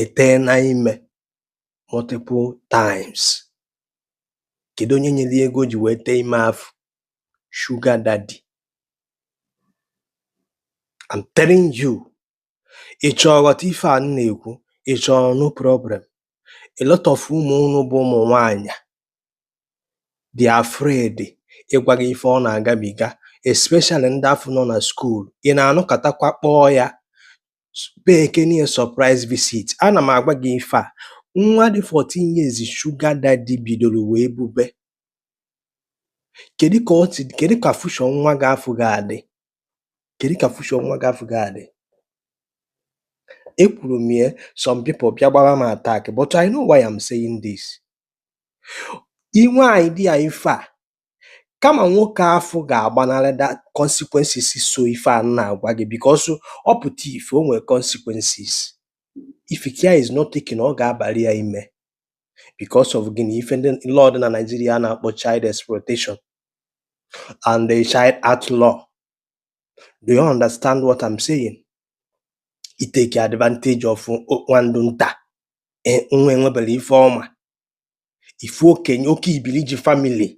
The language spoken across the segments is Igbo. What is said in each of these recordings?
eteena ime multiple times kedu onye nyere ego ji wee tee ime afụ sugar daddy I'm telling you ị chọọ ghọta ife a m na-ekwu ị chọrọ no problem a lot of ụmụ unu bụ ụmụ nwaanyị dị̀ afraid ịgwȧ gị ife ọ nà-àgabìga especially ndị afụ nọ nà school ị nà-ànọkàtakwa kpọọ yȧ paykene yȧ surprise visit anà m àgwa gị ife à nwa dị fourteen years sugar daddy bìdòrò wèe bube kèdu kà ọ tì kèdu kà future nwa gị afụ ga-àdị kèdu kà future nwa gị afụ ga-àdị ekwùrù m ye some people bịa gbara m attack but i know why I'm saying this i nwe any idea ife a kama nwoke afụ ga-agbanarị the consequences so ife a m na-agwa gị because ọ pụta ife o nwere consequences if care is not taken ọ ga-abalị ya ime because of gịnị ife ndị law dị na Naịjirịa a na-akpọ child exploitation and the child act law do you understand what I'm saying? itake advantage of o- nwa ndụ nta e nwa enwebero ife ọ ma ị fụ okenye oke ibili ji family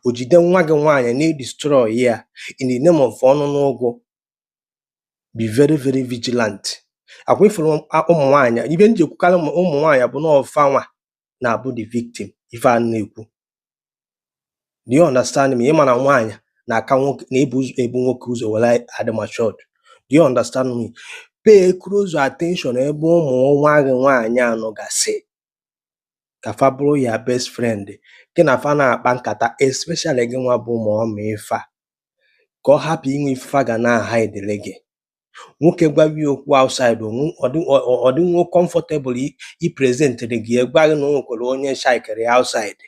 o jide nwa gị nwaanyị na-edestroy ya in the name of ọnụ n'ụgwọ be very very vigilant akwa ị fụrụ ụmụ nwaanyị ife m ji ekwukarị ụmụ ụmụ nwaanyị bụ na ọ fa nwa na-abụ the victim ife a m na-ekwu do you understand me ị ma na nwaanyị na-aka nwoke na-ebu ụzọ ebu nwoke ụzọ were adị matured do you understand me pay close attention ebe ụmụ nwa gị nwaanyị anọ gasị ka fa bụrụ your best friend gị na fa na-akpa nkata especially gị nwa bụ mummy fa ka ọ hapụ inwe ife fa ga na-ahidele gị nwoke gwawa ya okwu outside ọ dịnwo comfortable ipresentịrị gị gwa gị na o nwekwara onye chykere ya outside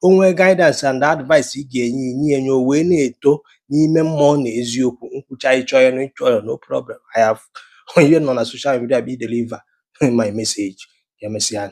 o nwee guidance and advice ị ga-enye i nye ya nye o wee na-eto n'ime mmụọ na eziokwu m kwucha ị chọ ya na ị chọ ya no problem I have onye nọ na social media bụ ideliver my message ka emesịa